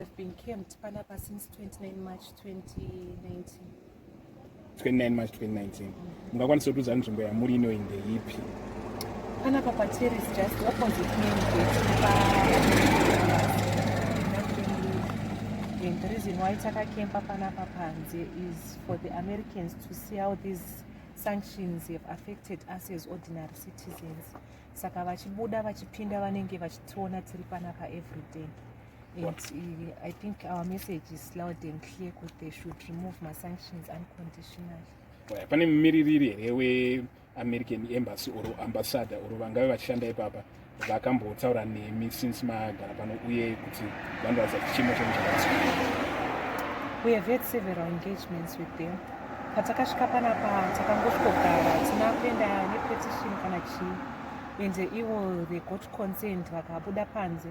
I've been camped panapa since 29 March 2019. 29 March 2019. Mungakwanisa kuudza nzvimbo yamuri ino inde ipi? Panapa pa terrace just opposite me pa And the reason why takakemba panapa panze is for the Americans to see how these sanctions have affected us as ordinary citizens. saka vachibuda vachipinda vanenge vachitiona tiri panapa everyday and uh, i think our message is loud and clear kuti they should remove masanctions unconditionally pane mumiririri here weamerican embassy or ambassador or vangave vachishanda ipapa vakambotaura nemi since magara pano uye kuti vanoratidza kuti chimo chenyu chakati we have had several engagements with them Patakasvika panapa takangosvigogara tina kuenda nepetition kana chii and ivo they got consent vakabuda panze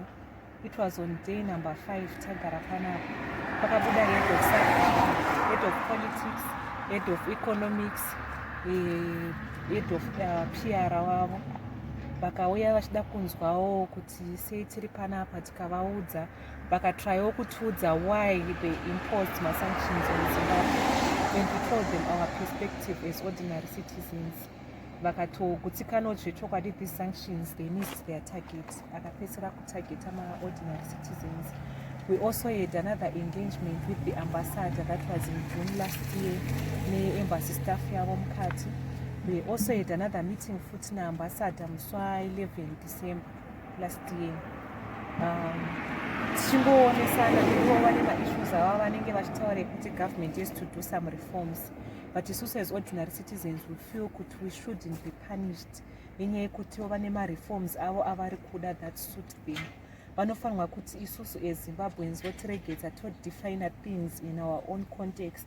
it was on day number five tagara panapa pakabuda head of subject head of politics head of economics eh, head of uh, pr wavo vakauya vachida kunzwawo kuti sei tiri panapa tikavaudza vakatryawo kutiudza why they imposed masanctions on zimbabwe and we told them our perspective as ordinary citizens vakatogutsikanawo zvechokwadi these sanctions they missed their target akapedzisira kutargeta maordinary citizens we also had another engagement with the ambassador that was in june last year neembassy staff yavo mukati we also had another meeting futi naambassador musi wa 11 december last year um, tichingoonesana ivo vane maissues ava vanenge vachitaura kuti government is to do some reforms but isusu as ordinary citizens we feel kuti we shouldn't be punished nenyaya yekutiwo vane mareforms avo avari kuda that suit them vanofanirwa kuti isusu ezimbabweans votiregedza todefiner things in our own context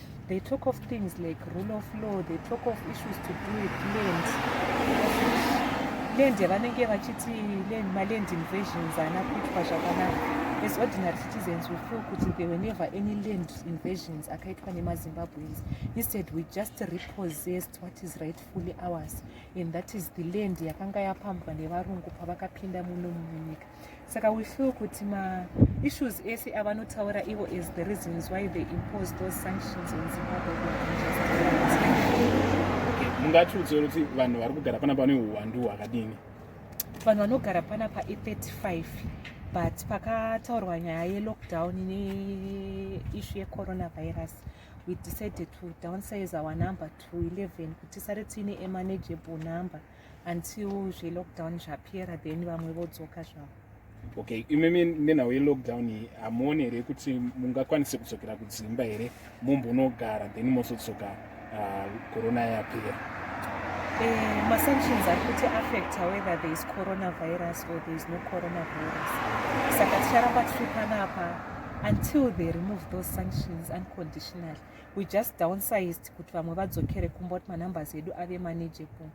They talk of things like rule of law, they talk of issues to do with land. Land yavanenge vachiti land, maland invasions haana kuitwa zvakanaka. As ordinary citizens we feel kuti there were never any land invasions akaitwa nemaZimbabweans. Instead we just repossessed what is rightfully ours and that is the land yakanga yapambwa nevarungu pavakapinda muno munyika. saka we feel kuti maissues ese avanotaura ivo as the reasons why they impose those sanctions on zimbabwe mungatiudzei kuti vanhu vari kugara panapa vane uwandu hwakadini vanhu vanogara panapa i35 but pakataurwa nyaya yelockdown neishu yecoronavirus we decided to downsize our number to 11 kuti sare tiine emanageable number mm. until zvelockdown zvapera then vamwe vodzoka zvavo okay imimi nenhau yelockdown iyi hamuoni here kuti mungakwanise kudzokera kudzimba here mumbonogara then mozodzoka ah, corona yapera eh, masanctions ari kuti affecta whether there is coronavirus or there is no coronavirus saka ticharamba tichipanapa until they remove those sanctions unconditionally we just downsized kuti vamwe vadzokere kumba kuti manumbers edu ave manageable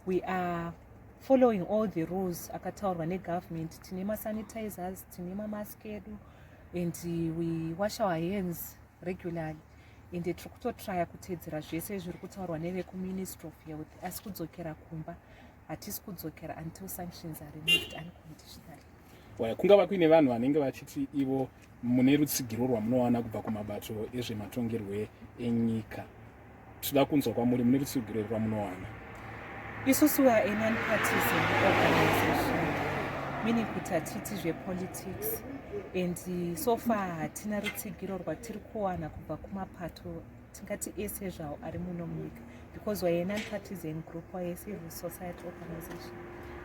we are following all the rules akataurwa negovernment tine masanitizers tine mamask edu and we wash our hands regularly and tiri kutotraya kuteedzera zvese zviri kutaurwa nevekuministry of health asi kudzokera kumba hatisi kudzokera until sanctions are removed unconditionally waya kungava kuine vanhu vanenge vachiti ivo mune rutsigiro rwamunowana kubva kumabato ezvematongerwe enyika tichida kunzwa kwamuri mune rutsigiro iri rwamunowana isusu vanon partisan organization meaning kuti hatiti zvepolitics and so far hatina rutsigiro rwatiri kuwana kubva kumapato tingati ese zvawo ari muno munyika because waye non-partisan group waye civil society organization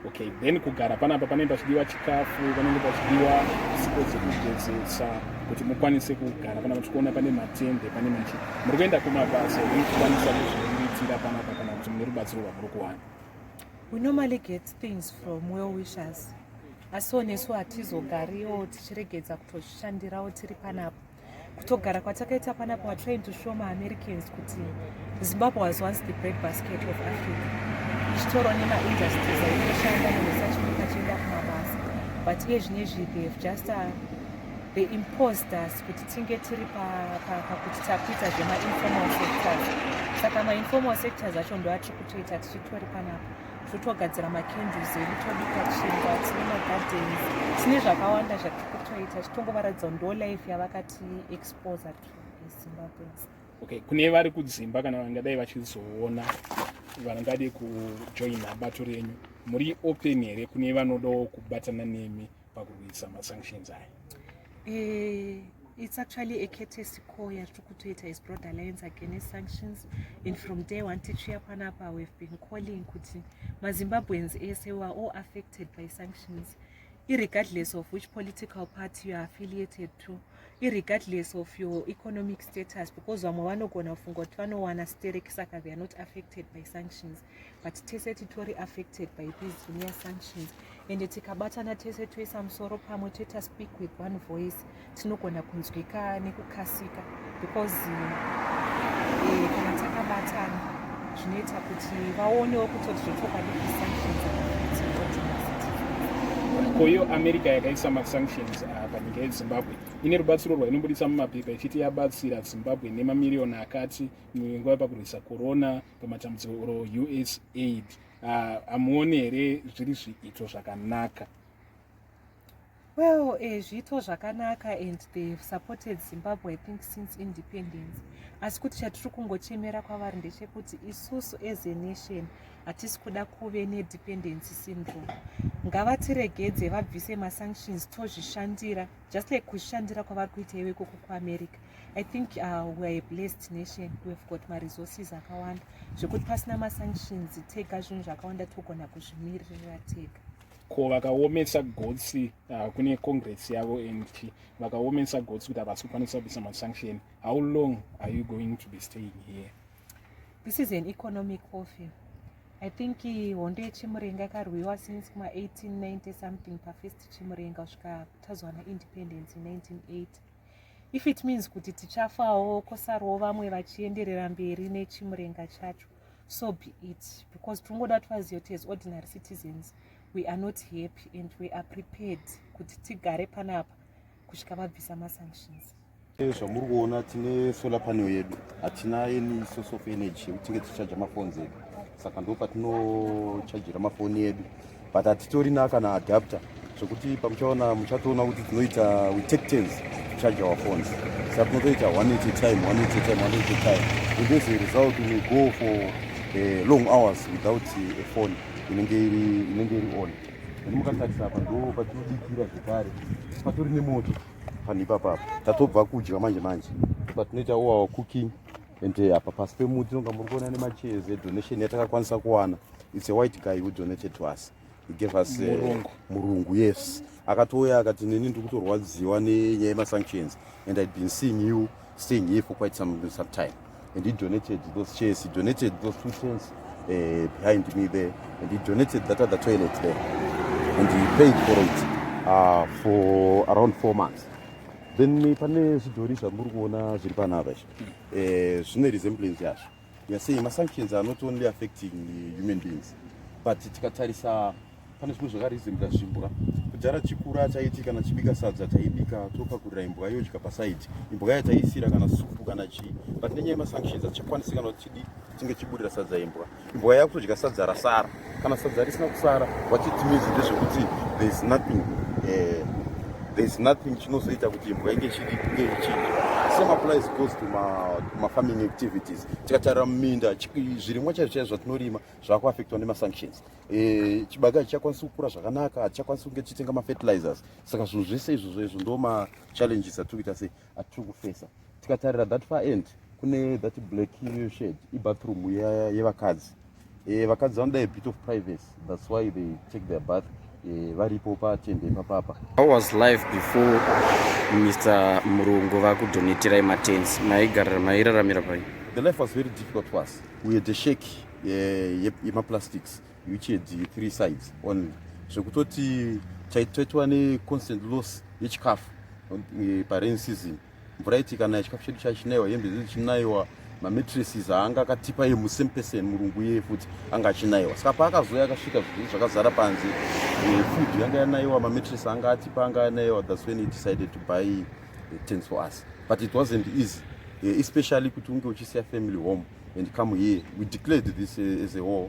okay then kugara panapa panenge pachidiwa chikafu panenge pachidiwa sipo dzekugezesa kuti mukwanise kugara panapa tichiona pane matende pane machi muri kuenda kumabasa ekukwanisa kuzviitira panapa kana kuti mune rubatsiro rwamuri kuwana we normally get things from well wishers asi onesu hatizogariwo tichiregedza kutozvishandirawo tiri panapa kutogara kwatakaita panapa wa trying to show ma americans kuti zimbabwe was once the bread basket of africa ichitoro nema industries aitoshanda nemusachimika chienda kumabasa but iye zvine zvipi have just uh, the imposed us kuti tinge tiri pakuti takuita zvema informal sectors saka ma informal sectors acho ndoatiri kutoita tichitori panapa totogadzira macandles edu tobika chingwa tine magardens tine zvakawanda zvatiri kutoita chitongovaratidza kuti ndo life yavakati exposer to zimbabweans okay kune vari kudzimba kana vangadai vachizoona vangade kujoina bato renyu muri open here kune vanodawo kubatana nemi pakurwisa masanctions aya eh, it's actually a courtesy call yatiri kutoita is broad alliance against sanctions and from day one tichiuya panapa we've been calling kuti mazimbabweans ese were all affected by sanctions irregardless of which political party youare affiliated to irregardless of your economic status because vamwe vanogona kufunga kuti vanowana sterek saka theyare not affected by sanctions but tese titori affected by these near sanctions and tikabatana tese toisa musoro pamwe toita speak with one voice tinogona kunzwika nekukasika because eh, kana uh, takabatana zvinoita kuti vaonewo kutoti zvotokwadi sanctions koyo america yakaisa masanctions ah, panyika yezimbabwe ine rubatsiro rwainobudisa mumapepa ichiti yabatsira zimbabwe nemamiriyoni akati munyengo yepakurwisa korona pamatambudziko or us aid ah, hamuoni uh, here zviri zviito zvakanaka well eh, zviito zvakanaka and they have supported zimbabwe i think since independence asi kuti chatiri kungochemera kwavari ndechekuti isusu as a nation hatisi kuda kuve nedependency syndrome ngavatiregedze vabvise masanctions tozvishandira just like kuzvishandira kwavari kuita iwe ikoko kuamerica I think uh, we are a blessed nation. We've got my resources akawanda zvekuti pasina masanctions tega zvinhu zvakawanda togona kuzvimiririra tega ko vakaomesa gotsi uh, kune congress yavo and vakaomesa gotsi kuti havasi kukwanisa kubisa masanction how long are you going to be staying here this is an economic warfare i think uh, hondo yechimurenga yakarwiwa since kuma 1890 something pafirst chimurenga kusvika tazowana independence in 1980 if it means kuti tichafawo kosarwo vamwe vachienderera mberi nechimurenga chacho so be it because tinongoda kuti vazive kuti as ordinary citizens we are not happy and we are prepared kuti tigare panapa kusvika vabvisa masanctions zvamuri kuona tine solar panel yedu hatina any source of energy yekutinge tichaja mafonzi edu saka ndo patinochajira mafoni edu but hatitorina kana adapter zvekuti pamuchaona muchatoona kuti tinoita we take turns charge our phones saka tinotoita one at a time one at a time one at a time and as a result we go for uh, long hours without uh, a phone inenge iri inenge iri on and mukatarisa apa ndo patinodikira zvekare patori nemoto panhu ipapapo tatobva kudya manje manje patinoita oawa cooking and eh, apa pasi pemuti nonga muri kuona nemachairs edonation yatakakwanisa kuwana its a white guy who donated to us he gave us eh, murungu, uh, murungu yes akatouya akati neni ndiri kutorwadziwa nenyaya yemasanctions and i'd been seeing you staying here for quite some, some time and he donated those chairs he donated those two tents uh, behind me there and he donated that other toilet there and he paid for it uh, for around four months then pane zvidhori zvamuri kuona zviri panapa izvi eh, zvine resemblance yazvo yasei masanctions are not only affecting human beings but tikatarisa pane zvimwe zvakaresembla zvimbwa kudhara chikura chaiti kana chibika sadza taibika topakurira imbwa yodya pasaidi imbwa yataisira kana supu kana chii but nenyaya yemasanctions hatichakwanisi kana kuti chidi tinge chiburira sadza imbwa Imbwa yako kudya sadza rasara. Kana sadza risina kusara, what it means ndezvekuti there is nothing eh, there is nothing chinozoita kuti imbwa inge chidi kunge ichidya. Same applies goes to ma, to ma farming activities. Tikatarira muminda zvirimwa chaizvo chaizvo zvatinorima zvakuaffectwa nema sanctions. Eh, chibage hachichakwanisi kukura zvakanaka, hachichakwanisi kunge tichitenga ma fertilizers. Saka zvinhu zvese izvozvo izvo ndo ma challenges atiri kuita sei. atiri kufesa tikatarira that far end kune that black shed ibathroom yevakadzi ye eh, vakadzi vanoda a bit of privacy that's why they take their bath eh, varipo patende papapa how was life before mr murungu vakudonetirai matens maigarira mairaramira pai the life was very difficult to us we had a shake eh, yemaplastics ye, ye uchedi three sides only zvekutoti taitwa neconstant loss yechikafu eh, parain season mvura iti kana chikafu chedu chachinaiwa hembe zvedu chinaiwa mametrises aanga akatipa ye musame person murungu iye futi anga achinaiwa saka paakazouya akasvika zvii zvakazara panze eh, food yanga yanaiwa mametres anga atipa anga yanaiwa thats when he decided to buy eh, tens for us but it wasn't easy especially kuti unge uchisiya family home and come here we declared this as a war